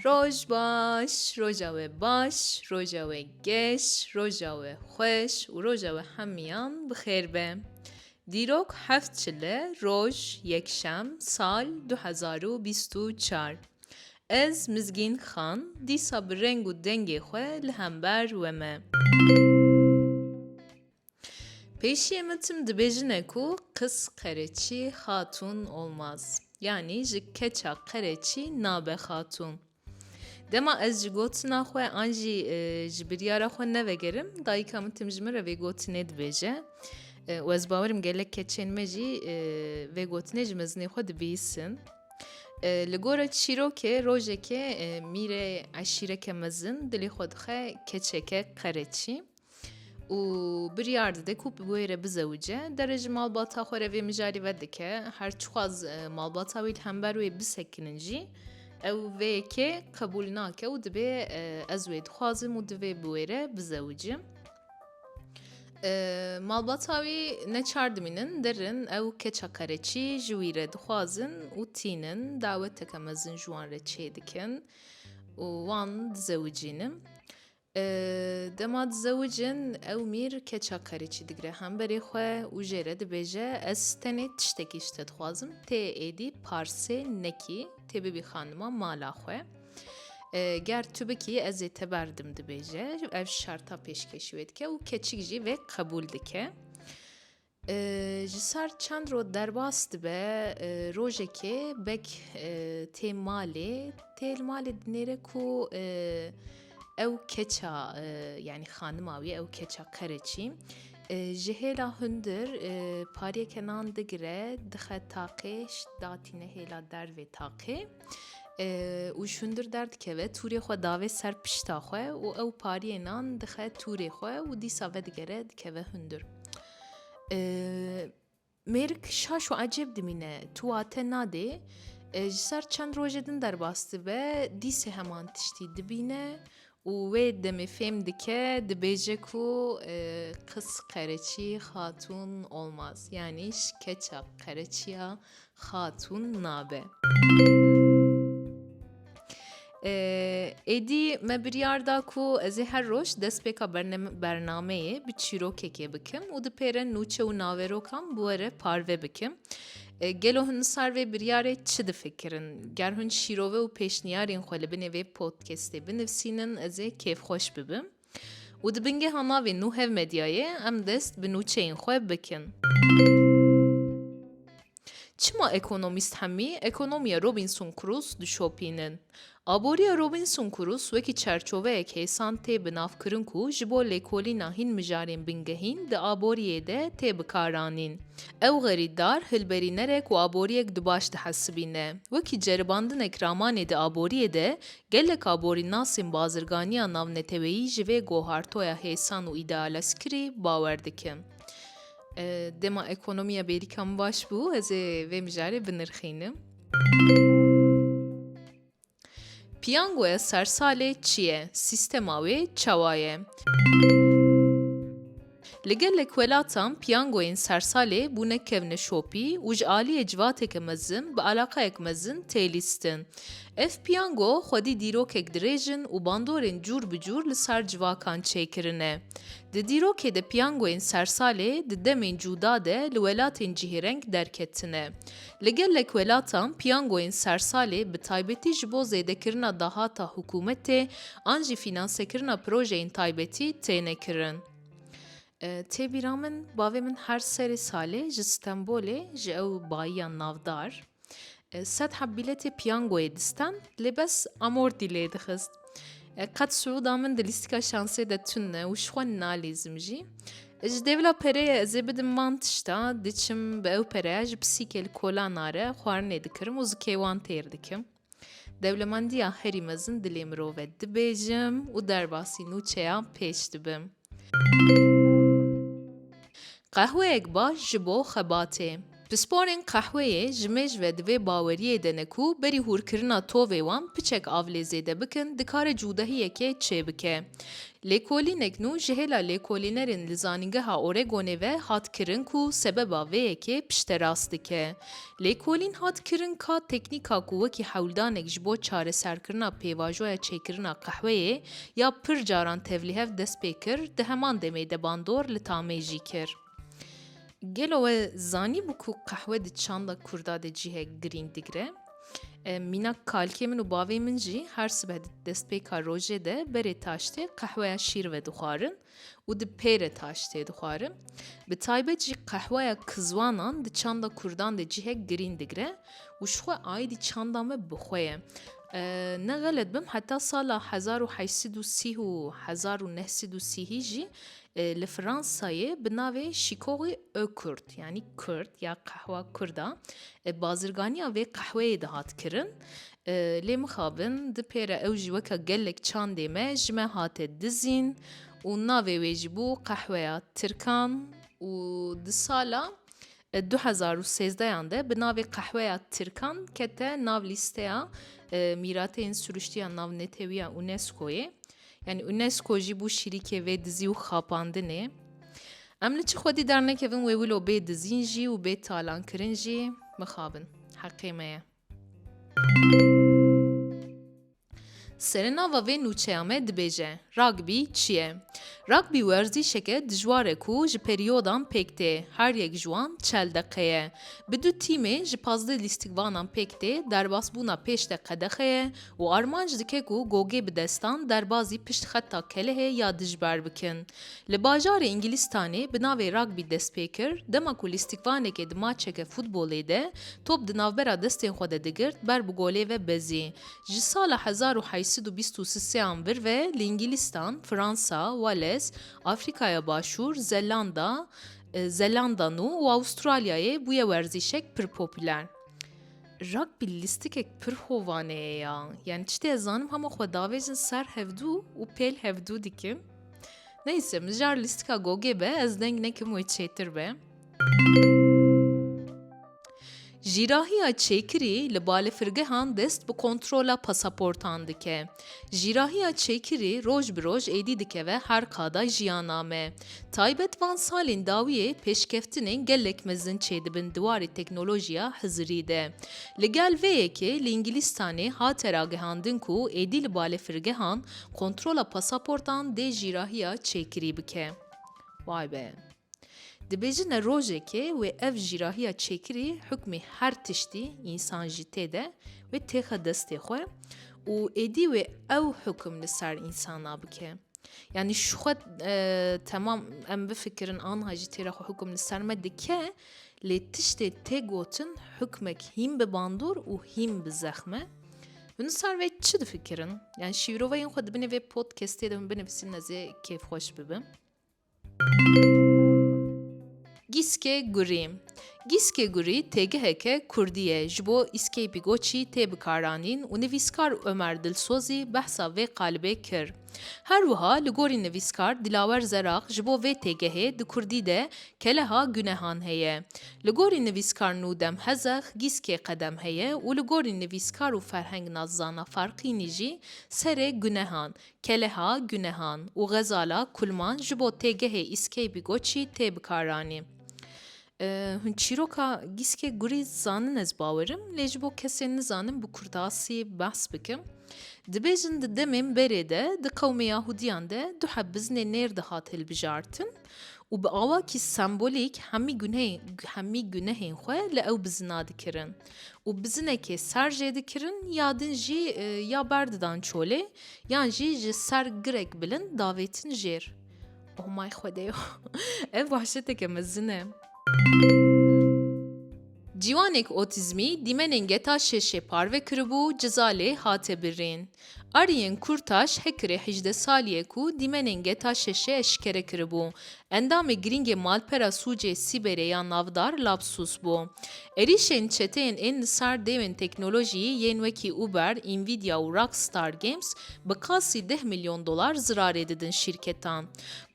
Roj baş, roja we baş, roja we geş, roja we xweş û roja we hemiyan bi xêr be. Dîrok heft çile roj yekşem sal 2024. Ez Mizgîn Xan dîsa bi reng û dengê xwe li hember we me. Pêşiyê min tim dibêjine ku Kız Qereçî Hatun olmaz. Yanî ji keça qereçî nabe xatun. Dema ez ji gotina xwe an jî e, ji biryara xwe nevegerim, dayika min tim ji min re vê gotinê dibêje. E, û ez bawerim gelek keçên me jî e, vê gotinê ji mezinê xwe dibîsin. Li gora çîrokê rojekê mîrê eşîreke mezin dilê xwe dixe keçeke qereçî û biryar dide ku bi wê re bizewice derê ji malbata xwe re vê mijarî ve dike her çixwaz e, malbata wî li hember wê bisekinin jî ew vê yekê qebûl nake û dibê e, ez wê dixwazim û divê bi wê re bizewicim. Malbata wî ne çar dimînin dir in ew keça qereçî ji wî re dixwazin û tînin daweteke mezin ji wan re çê dikin û wan dizewicînin. Dema dizewicin ew mîr keça qereçî digire hemberê xwe û jê re dibêje ez tenê tiştekî ji te dixwazim tê êdî parsê nekî tê bibî xanima mala xwe. Ger tu bikî ez ê te berdim dibêje. Ev şerta pêşkêş wê dike û keçik jî vê qebûl dike. Ji sar çend rot derbas dibe rojekê bek tê malê tê li malê dinêre ku ew keça yanî xanima wî ew keça qereçî ji hêla hundir pariyeke nan digire dixe taqê datîne hêla dervê taqê. Û ji hundir derdikeve, tûrê xwe dave ser pişta xwe û ew pariyê nan dixe tûrê xwe û dîsa vedigere dikeve hundir. Mêrik şaş û ecêb dimîne, tu wa te nadê, ji ser çend rojê din derbas dibe, dîsê heman tiştî dibîne Û wê demê fêm dike dibêje ku qız qereçî xatûn olmaz yanî ji keça qereçiya xatûn nabe. Êdî me biryar da ku ez ê her roj destpêka bernameyê bi çîrokekê bikim û dipêre nûçe û naverokan bi we re parve bikim. Gelo hûn li sar vê biryarê çi difikirin? Ger hûn şîrove û pêşniyarên xwe li binê vê podcastê binivîsînin ez ê kêfxweş bibim. Û di bingeha navê Nû Hev Medyayê em dest bi nûçeyên xwe bikin. Çima ekonomîst hemî ekonomiya Robinson Crusoe dişopînin? Aboriya Robinson Crusoe wekî çerçoveyek hêsan tê bi nav kirin ku ji bo lêkolîna hîn mijarên bingehîn di aboriyê de tê bikaranîn. Ew xerîtdar, hilberînerek û aboriyek di baş dihesibîne. Wekî ceribandinek ramanê di aboriyê de, gelek aborînasên bazirganiya navneteweyî ji vê gohartoya hêsan û îdealeskirî bawer dikin. Dema ekonomiya bêrîka min baş bû, ez ê vê mijarê binirxînim. Piyangoya sersalê çi ye? Sîstema wê çawa ye? Li gelek welatan piyangoyên sersalê bûne kevneşopî û ji aliyê civateke mezin bi alaqeyek mezin tê lîstin. Ev piyango xwedî dîrokek dirêj in û bandorên cûr bi cûr li sar civakan çêkirine. Di dîrokê de piyangoyên sersalê di demên cûda de li welatên cihêreng derketine. Li gelek welatan piyangoyên sersalê bi taybetî ji bo zêdekirina dahata hikûmetê an jî fînansekirina projeyên taybetî têne kirin. Tê bîra min bavê min her serê salê ji Stenbolê ji ew bayiya navdar sed heb bîletê piyangoyê distan lê bes amortî lê dixist. Qet sûda min di lîstika şansê de tune û ji xwe nalîzim jî. Ji dê vila pereyê ez ê bidim van tişta, diçim bi ew pereya ji pisîkê li kola nare xwarinê dikirim û zikê wan têr dikim. Dewlemendiya herî mezin dilê mirov e dibêjim û derbasî nûçeya pêç dibim. Qehweyek baş ji bo xebatê. Pisporên qehweyê ji mêj ve di vê baweriyê de ne ku berî hûrkirina tovê wan piçek av lê zêde bikin dikare cûdahiyekê çêbike. Lêkolînek nû ji hêla lêkolînerên li Zanîngeha Oregonê ve hat kirin ku sebeba vê yekê pişterast dike. Lêkolîn hat kirin ka teknîka ku wekî hewldanek ji bo çareserkirina pêvajoya çêkirina qehweyê ya pir caran tevlihev dest pê kir di heman demê de bandor li Tamê jî kir. Gelo we zanî bû ku qehwe di çanda Kurda de cihek girîng digire? Mîna kalkê min û bavê min jî her sibe di destpêka rojê de berê taştê qehweya şîr ve dixwarin û di pêre taştê dixwarin. Bi taybet jî qehweya kizwanan di çanda Kurdan de cihek girîng digire û ji xwe aîdî çanda me bi xwe ye. Ne xelet bim heta sala hezar û heşt sed û sî û hezar û neh sed û sî hî jî Li Fransayê bi navê Şîkoxê Ökurt yanî Kurd ya qehwa Kurd a bazirganiya vê qehweyê dihat kirin. Lê mixabin di pêre ew jî weke gelek çandê me ji me hate dizîn û navê wê jî bû qehweya Tirkan û di sala Du hezar û sêzdeyan de bi navê Qehweya Tirkan kete nav lîsteya mîrateyên siruştiya navnetewiya UNESCO'yê. Yani UNESCO jî bû şîrîkê vê dizî û xapandinê. Em li çi xwedî dernekevin wê wilo bê dizîn jî û bê talankirin jî mixabin. Heqê me ye. Serenava vê nûçeya me dibêje, Rugby çi ye? Rugby werzîşeke dijwar e ku ji perîyodan pêk tê, her yek ji wan çel deqe ye. Bi du tîmê ji pazdeh lîstikvanan pêk tê, derbasbûna pêş de qedexe ye û armanc dike ku Gogê bi destan derbazî pişt xeta kelehê ya dijber bikin. Li bajarê Îngilîstanê bi navê Rugby dest pê kir, dema ku lîstikvanekê di maçeke futbolê de top di navbera destên xwe de digirt ber bi golê ve bezî. Ji sala hezar û heşt sed û bîst û sisê an vir ve li Îngilîstan, Fransa, Wales, Afrikaya Başûr, Zelanda, Zelanda Nû û Avustralyayê bûye werzîşek pir popûler. Rugby lîstikek pir hovaneye ya. Yani çi tê zanim hema xwe davêjin ser hevdû û pêl hevdû dikim. Neyse mijar lîstika gogê be ez deng nekim wê çêtir be. Jîrahiya çêkirî li balefirgehan dest bi kontrola pasaportan dike. Jîrahiya Çêkirî roj bi roj êdî dikeve her qada jiyana me. Taybet van salên dawiyê pêşkeftinên gelek mezin çêdibin di warê teknolojiya hizirî de. Li gel vê yekê li Îngilîstanê hate ragihandin ku êdî li balefirgehan kontrola pasaportan dê jîrahiya Çêkirî bike. Vay be! Dibêjin ne rojekê wê ev jîrahiya çêkirî hukmî her tiştî, însan jî tê de, wê têxe destê xwe û êdî wê ew hukm li ser însana bike. Yanî ji xwe temam em bifikirin anha jî têra xwe hukm li ser me dike lê tiştê tê gotin hukmek hîm bi bandor û hîm bi zexme. Min sar vê çi difikirin? Yani şîroveyên xwe dibinê vê podcastê de min binivîsin nezê kêfxweş bibim. Gîskê Gurî Gîskê Gurî têgiheke kurdî ye ji bo îskeypî goçî tê bikaranîn û nivîskar Omer Dilsozî behsa vê qalibê kir. Her wiha li gorî nivîskar Dilawer Zerax ji bo vê têgehê di kurdî de keleha gunehan heye. Li gorî nivîskar Nûdem Hezex gîskê qedem heye û li gorî nivîskar û ferheng nazzana Farqînî jî serê gunehan, Keleha, Gunehan û Xezala Kulman ji bo têgehê Îskeybi Goçî tê bikaranî. Hûn çîroka Gîske Gurî zanin ez bawerim lê ji bo kesên nizanin bi kurdasî behs bikim. Dibêjin di demên berê de di qewmê Yahudiyan de du heb biznê nêr dihat hilbijartin. û bi awakî sembolîk hemî gunehên hemî gunehên xwe li ew bi zina dikirin û bi zinekê ser jê dikirin ya din jî e, ya ber didan çolê yan jî ji ser girek bilind davêtin jêr. Oh my xwedê ev wahşeteke mezin e. Ciwanêk otîzmî dîmenên geta şêşê parve kiribû ciza lê hate birrîn. Ariyên Kurtaş Hekirê hejdeh salî ye ku dîmenên geta şêşê eşkere kiribû. Endamê girîngê malpera sûcê Sîberê ya navdar Labsus bû. Êrîşên çeteyên ên li sar dêwên teknolojîyî yên wekî Uber, Nvidia û Rockstar Games bi qasî deh milyon dolar zirarê didin şîrketan.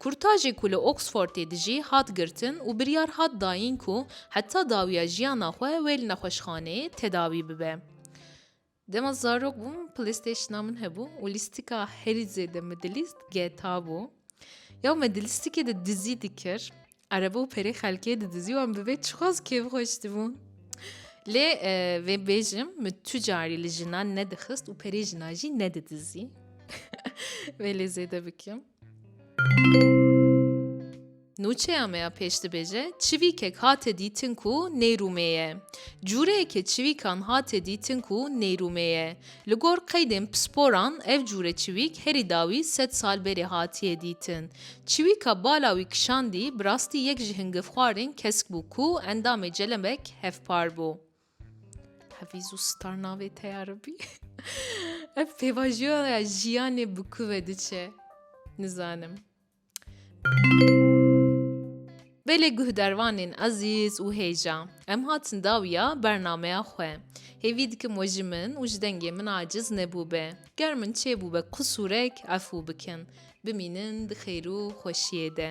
Kurtajê ku li Oxfordê dijî hat girtin û biryar hat dayîn ku Heta dawiya jiyana xwe wê li nexweşxaneyê tedawî bibe. Dema zarok bûm Playstationa min hebû û lîstika herî zêde min dilîst GTA bû. Ya me di lîstikê de dizî dikir. Erebe û perê xelkê didizî wan bi vê çiqas kêfxweş dibû. Lê e, vê bêjim min tu carî li jinan nedixist û perê jinan jî nedidizî. Vê lê zêde bikim. Nûçeya me ya pêş dibêje, Çivîkek hate dîtin ku nêrûmê ye. Cûreyekê çivîkan hate dîtin ku nêrûmê ye. Li gor qeydên pisporan ev cûre çivîk herî dawî sed sal berê hatiye dîtin. Çivîka bala wî kişandî bi rastî yek ji hingivxwarên kesk bû ku endamê celebek hevpar bû. Hevîz û star navê te ya ribî. Ev pêvajoya jiyanê bi ku ve diçe? Nizanim. Belê guh dervanên ezîz û hêja, em hatin dawiya bernameya xwe. Hêvî dikim we ji min û ji dengê min aciz nebûbe. Ger min çêbûbe qisûrek efû bikin. Bimînin di xêr û xweşiyê de.